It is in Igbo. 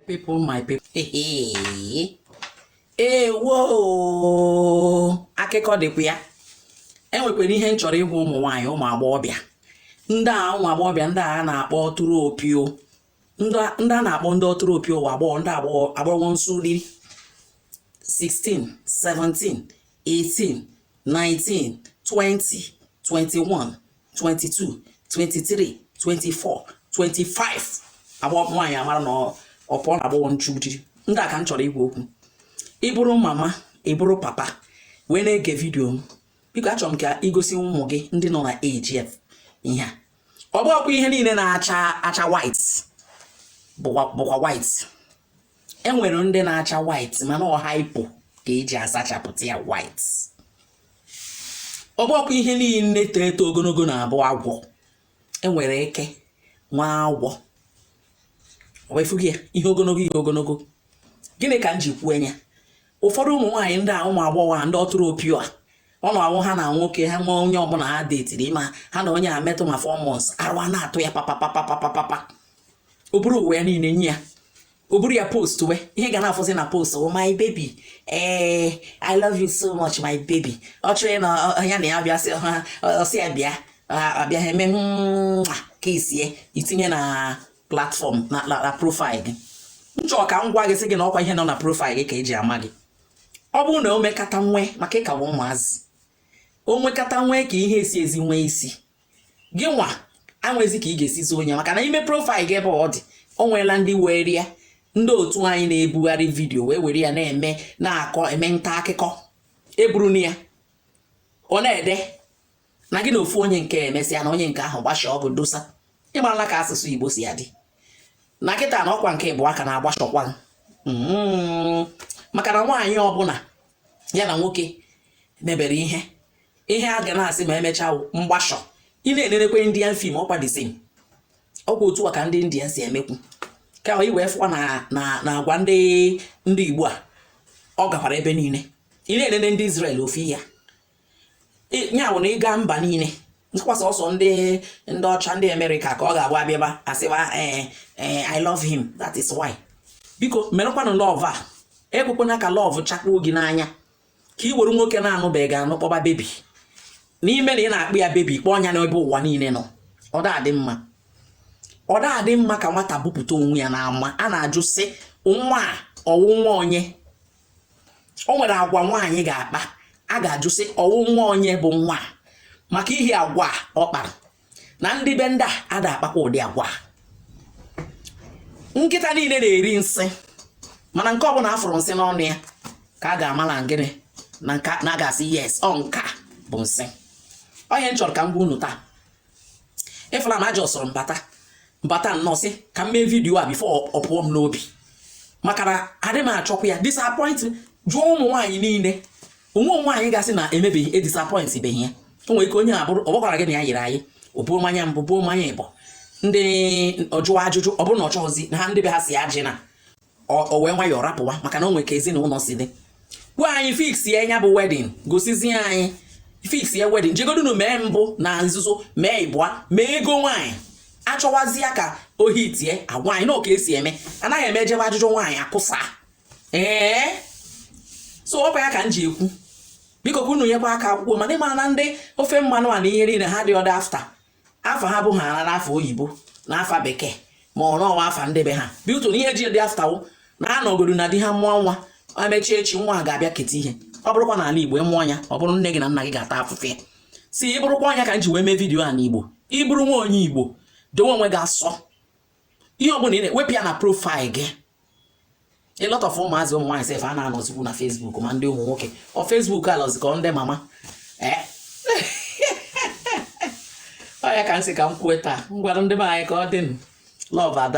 people my people ewo akụkọ dịkwa ya enwekwara ihe m chọrọ ịgwa ụmụ nwaanyị ụmụ agbọghọbịa ndị a ụmụ agbọghọbịa ndị a na-akpọ ọtụrụ opio ndị a na-akpọ ndị ọtụrụ opio nwa agbọghọ ndị agbọghọ nchu di 16 17 18 19, 20, 21, 22, 23, 24, 25 agba nwaanyị amara na ọ pụọ na agbọghọ nchu di ndị a ka m chọrọ ịgwa okwu ị bụrụ mama ị bụrụ papa wee na-ege vidiyo m biko achọrọ m ka i gosi ụmụ gị ndị nọ na age afụ ihe a ọ bụghịkwa ihe niile na-acha white bụkwa white enwere ndị na-acha white mana ọ hypo ka eji asachapụta ya white ọ bụghịkwa ihe niile too eto ogologo na-abụ agwọ enwere eke nwee agwọ wefughị ya ihe ogologo ihe ogologo gịnị ka m ji kwuo nya ụfọdụ ụmụ nwaanyị ndị a ụmụ agbọghọ ndị ọtụrụ opio a ọ na-awụ ha na nwoke ha nwee onye ọbụla ha detiri ma ha na onye a metụ ma 4 months arụ a na-atụ ya papapapapapapa o buru onwe ya niile nye ya o buru ya postwe ihe ị ga na-afụzi na post oh my baby ee eh, i love you so much my baby ọ chọrọ na ya na ya bịa sị ha ọsị ya bịa abịa ha eme ka isie itinye na platfọm na profaịl gị nchọ ka m gwa gị sị gị na ọkwa ihe nọ na profaịl gị ka eji ama gị ọ bụrụ na o mekata nwee maka ị ka wụ ụmụazị o nwekata nwee ka ihe esi ezi nwee isi gị nwa anwezi ka ị ga-esi zoo onye maka na ime profaịl gị ebe ọ dị o nweela ndị were ya ndị otu anyị na-ebugharị vidiyo wee were ya na-eme na-akọ eme nta akụkọ eburu na ya ọ na-ede na gị na ofu onye nke emesịa na onye nke ahụ gbasha ọgụ dosa ịmarala ka asụsụ Igbo si adị na kịta na ọkwa nke bụ aka na-agbashọkwa mm-hmm. maka na nwaanyị ọbụla ya na nwoke mebere ihe ihe a ga na-asị ma emechaa wụ mgbashọ ị na-enenekwe indian fim ọkwa the same ọkwa otu a ka ndị indian si emekwu ka i wee fụkwa na na na agwa ndị ndị igbo a ọ gakwara ebe niile ị na-enene ndị israel ofu ihe a Ị- ya bụ na ịga mba niile ọkwa sọsọ ndị ndị ọcha ndị amerịka ka ọ ga-abụ abịaba asịwa ee ee i love him that is why biko merekwanụ lọv a ekwekwana ka lọv chakpuo gị n'anya ka i were nwoke na-anụbeghị gị anụ kpọba bebi n'ime na ị na-akpọ ya bebi kpọọ nya n'ebe ụwa niile nọ ọ da-adị mma ọ da-adị mma ka nwata bupụta onwe ya n'ama a na-ajụ sị nwa a ọwụ nwa onye o nwere agwa nwaanyị ga-akpa a ga-ajụ sị ọwụ nwa onye bụ nwa a maka ihe agwa ọ kpara na ndị be ndị a ada akpakwa ụdị agwa nkịta niile na-eri nsị mana nke ọbụla a fụrụ nsị n'ọnụ ya ka a ga-amala ngịnị na nka na ga-asị yes ọ nka bụ nsị ọ ihe m chọrọ ka m gwa unu taa ị fụla na aja ọsọrọ mbata mbata nnọọ sị ka m mee video a before ọ pụọ m n'obi maka na adị m achọkwa ya disappoint jụọ ụmụ nwaanyị niile o nwee nwaanyị ga-asị na emebeghị e disappoint beghị ya o nwere ike onye a bụrụ ọ gwakwara gị na ya yiri anyị o buru mmanya mbụ buru mmanya ịbọ ndị ọ jụwa ajụjụ ọ bụrụ na ọ chọghịzi na ha ndị be ha si ajị na o wee nwayọọ rapụwa maka na o nwere ka ezinụlọ si dị ngwa anyị fix ya nya bụ wedding gosizie anyị fix ya wedding jegodunu mee mbụ na nzuzo mee ịbụa mee ego nwaanyị achọwazie ka ohi tie agwa anyị na ọ ka e si eme anaghị eme e jebe ajụjụ nwaanyị akụsa ee so ọ bụ ya ka m ji ekwu biko kwunu nyekwa aka akwụkwọ mana ị mara na ndị ofe mmanụ a na ihe niile ha dị ọ dị after afa ha bụ ha ara n'afa oyibo na afa bekee ma ọ nọwa afa ndị be ha bi ụtụ na ihe ji dị after all na ha nọgodu na di ha mụọ nwa e mechie echi nwa ha ga-abịa keta ihe ọ bụrụkwa na ala igbo ị mụọ nwa ọ bụrụ nne gị na nna gị ga-ata afụfụ ya si ị bụrụkwa ọ nya ka m ji wee mee video a n'igbo ị bụrụ nwa onye igbo dowe onwe gị asọ ihe ọbụla ị na-ewepụ ya na profile gị a lot of ụmụazị ụmụ nwaanyị sef a na-anọzikwu na Facebook ma ndị ụmụ nwoke ọ Facebook alọzi ka ndị mama eh? ọ ya ka m sị ka m kwue taa ngwanụ ndị be anyị ka ọ dị love ada